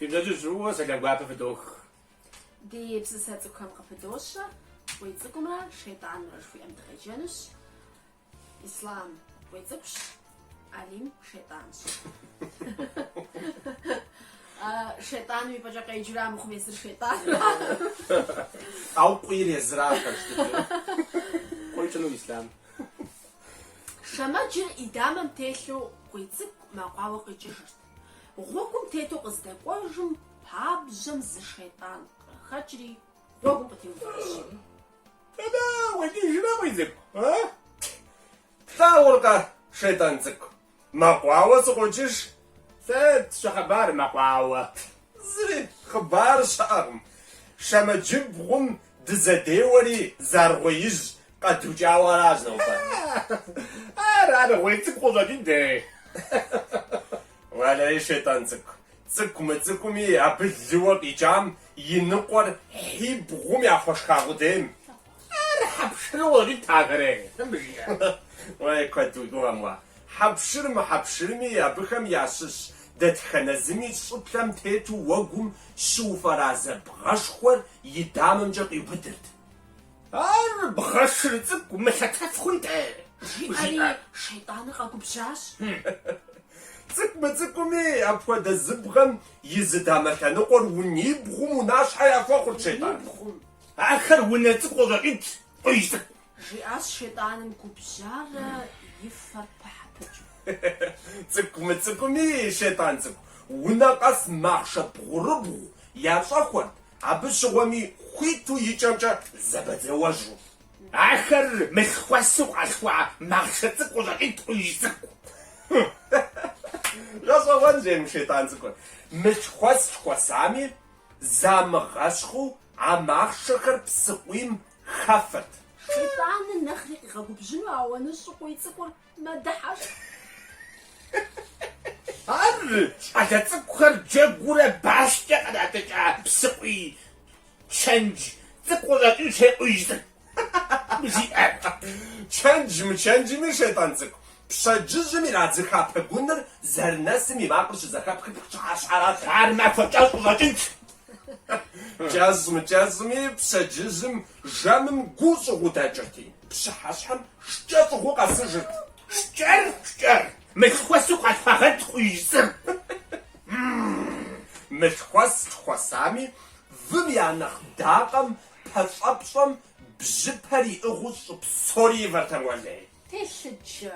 Фи пщэдджыжь фӏыуэ, сэлам гуапэ фыдох. Ди псысэ цӏыкӏухэм къыпыдощэ, Къуий цӏыкӏумрэ шейтӏанымрэ жыхуиӏэм дыкъеджэнущ. Ислам къуий цӏыкӏущ, Алим шейтӏанщ. Шейтӏаным и пӏэкӏэ къеджэра мыхъум езыр шейтӏанра? Ау къуийр езыра хэлъщ дыдэу. Кьуэкӏыну Ислам. Шэмэджыр и дамэм телъу къуий цӏыкӏу мэкъуауэ къикӏыжырт. Гъуэгум тету къыздэкӏуэжым пабжьэм зы шейтӏан къыхэкӏри гъуэгум къытеуващ. Дэнэ укъикӏыжрэ, къуий цӏыкӏу, а? Плъагъуркъэ, шейтӏан цӏыкӏу, мэкъуауэ сыкъокӏыж? Сыт щыхъыбар мэкъуауэ? Зыри хъыбар щыӏэкъым. Шэмэджыбгъум дызэдеуэри зы аргъуеижь къэдукӏауэ аращ нобэ. Ар аргъуей цӏыкӏу къыщӏэкӏынт, ей. Уэлэхьи, шейтӏан цӏыкӏу, Цӏыкӏу мыцӏыкӏуми абы лыуэ къикӏам и ныкъуэр хьибгъум яхуэшха къудейм. Ар хьэпшыру къыщӏэкӏынт ахэр, къуижь цӏыкӏу. Уей, куэд уи гугъэм уэ. Хьэпшыр мыхьэпшырми, абыхэм ящыщ дэтхэнэ зыми щӏыплъэм тету уэгум щыуфӏэразэ бгъэшхуэр и дамэмкӏэ къиубыдырт. Ар бгъэшыр цӏыкӏу мылъэтэф хъунт-тӏэ? жиӏэри, шейтӏаныр къэгубжьащ. Цӏыкӏу мыцӏыкӏуми, апхуэдэ зы бгъэм и зы дамэ лъэныкъуэр унибгъум унащхьэ яхуэхъурт шейтӏан. Унибгъум? Ахэр унэ цӏыкӏу къыщӏэкӏынт, къуижь цӏыкӏу. Жиӏащ шейтӏаным губжьарэ и фэр пыхьэ-пыкӏыу. Цӏыкӏу мыцӏыкӏуми, шейтӏан цӏыкӏу, унэ къэс махъшэ бгъурыбгъу ящӏэхуэрт, Абы щыгъуэми хуиту и кӏэмкӏэ зэбэдзэуэжу. Ахэр мылъхуэсу къалъхуа махъшэ цӏыкӏу къыщӏэкӏынт, къуижь цӏыкӏу. Гъэщӏэгъуэн жей мы шейтӏан цӏыкӏур. Мылъхуэс лъхуэсами, замыгъэщхъыу а махъшэхэр псыкъуийм хэфырт. Шейтӏаныр нэхъри къигъэгубжьыну ауаныщӏу къуий цӏыкӏур Мэдыхьэшх. Ар щӏалэ цӏыкӏухэр джэгуурэ башкӏэ къратӏыкӏа псыкъуий чэндж цӏыкӏу къыщӏэкӏынщ, ей къуижь цӏыкӏу, жиӏэр. Чэндж-мычэнджми шейтӏан цӏыкӏу пщэдджыжьым ирадзыха пэгуныр зэрынэсым и макъыр щызэхэпхыр пщыхьэщхьэрат. Ар махуэ кӏэщӏ къыщӏэкӏынт. Кӏэщӏ-мыкӏэщӏми пщэдджыжьым жэмым гуу щӏыгъуу дэкӏырти. Пщыхьэщхьэм шкӏэ щӏыгъуу къэсыжырт. Шкӏэр, шкӏэр! Мылъхуэсу къалъхуагъэнт къуийжь цӏыкӏур. Мылъхуэс лъхуэсами, вым я нэхъ дакъэм, пэщӏэпщӏэм бжьыпэр иӏыгъыу щӏы псори ивэртэм уэлей. Телъыджэ.